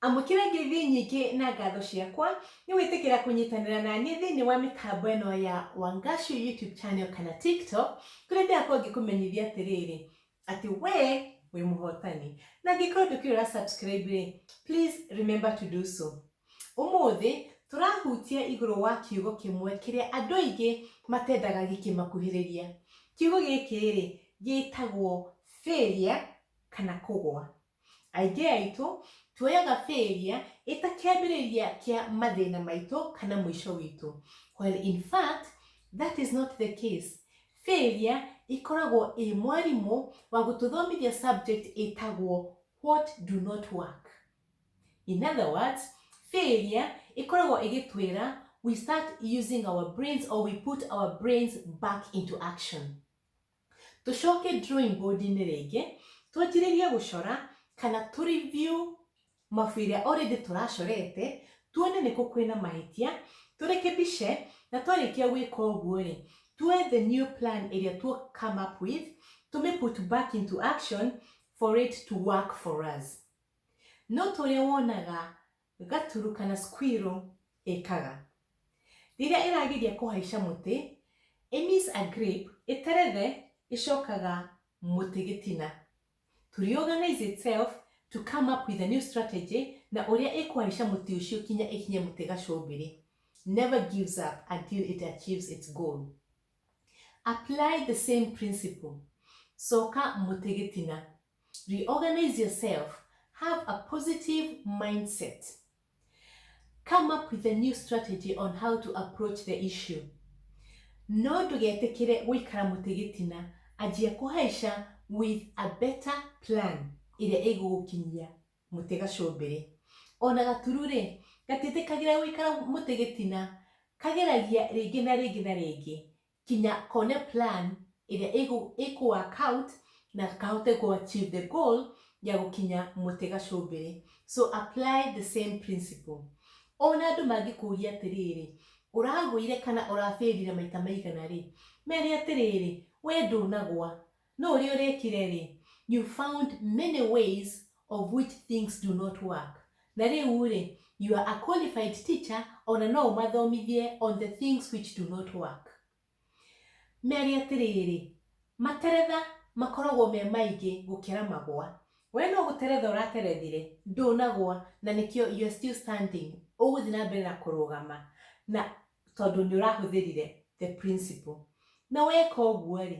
amũkĩra ngeithi nyingĩ na ngatho ciakwa nĩ wĩtĩkĩra kũnyitanĩra na niĩ thĩinĩ wa mĩtambo ĩno ya wangashu youtube channel kana tiktok kũrĩa ndĩrakorwo ngĩkũmenyithia atĩrĩrĩ Ati we wi muhotani. Na angĩkorwo ndũkĩrĩ ũra subscribe rĩ, please remember to do so. Ũmũthĩ tũrahutia igũrũ wa kiugo kĩmwe kĩrĩa andũ aingĩ matendaga gĩkĩmakuhĩrĩria. Kiugo gĩkĩ rĩ gĩtagwo failure kana kũgwa. Aingĩ aitũ tuoyaga failure ĩta kĩambĩrĩria kĩa mathĩna maitũ kana mũico witũ. While in fact, that is not the case. Failure ĩkoragwo ĩ mwarimũ wa gũtũthomithia subject ĩtagwo what do not work. In other words, failure ĩkoragwo ĩgĩtwĩra we start using our brains or we put our brains back into action. Tũcoke drawing board-inĩ rĩngĩ, twanjĩrĩrie gũcora kana tũ review mabuku ĩrĩa already tũracorete, tuone nĩkũ kwĩna mahĩtia, tũrekebishe, na twarĩkia gwĩka ũguo-rĩ, tuoe the new plan ĩrĩa tũ come up with, tũmĩ put back into action for it to work for us. Note ũrĩa wonaga Gaturu kana squirrel ĩkaga. Rĩrĩa ĩrageria kũhaica mũtĩ, ĩ miss a grape, ĩterethe, ĩcokaga mũtĩ gĩtina to reorganize itself to come up with a new strategy na ũrĩa ĩkũhaica mũtĩ ũcio kinya ĩkinye mũtĩ gacumbĩrĩ. Never gives up until it achieves its goal. Apply the same principle. Coka mũtĩ gĩtina. Reorganize yourself. Have a positive mindset. Come up with a new strategy on how to approach the issue. No ndũgetĩkĩre gũikara mũtĩ gĩtina, anjia kũhaica with a better plan ĩrĩa ĩgũgũkinyia mũtĩ gacũmbĩrĩ. Ona gatururĩ, gatiĩtĩkagĩra gũikara mũtĩ gĩtina, kageragia rĩngĩ na rĩngĩ na rĩngĩ kinya kone plan ĩrĩa ĩkũ work out na kahote kũ achieve the goal ya gũkinya mũtĩ gacumbĩrĩ. So apply the same principle. Ona andũ mangĩkũria atĩrĩrĩ, ũragũire kana ũra failire maita maigana rĩ, mere atĩrĩrĩ, we ndũnagwa, No ũrĩa ũrekire rĩ, you found many ways of which things do not work. Na rĩu rĩ, you are a qualified teacher ona no ũmathomithie on the things which do not work. Mere atĩrĩrĩ, materetha makoragwo me maingĩ gũkĩra magwa. We no gũteretha ũraterethire, ndũnagwa na nĩkĩo you are still standing. Ũgũthiĩ na mbere na kũrũgama na tondũ nĩ ũrahũthĩrire the principle. Na weka ũguo rĩ,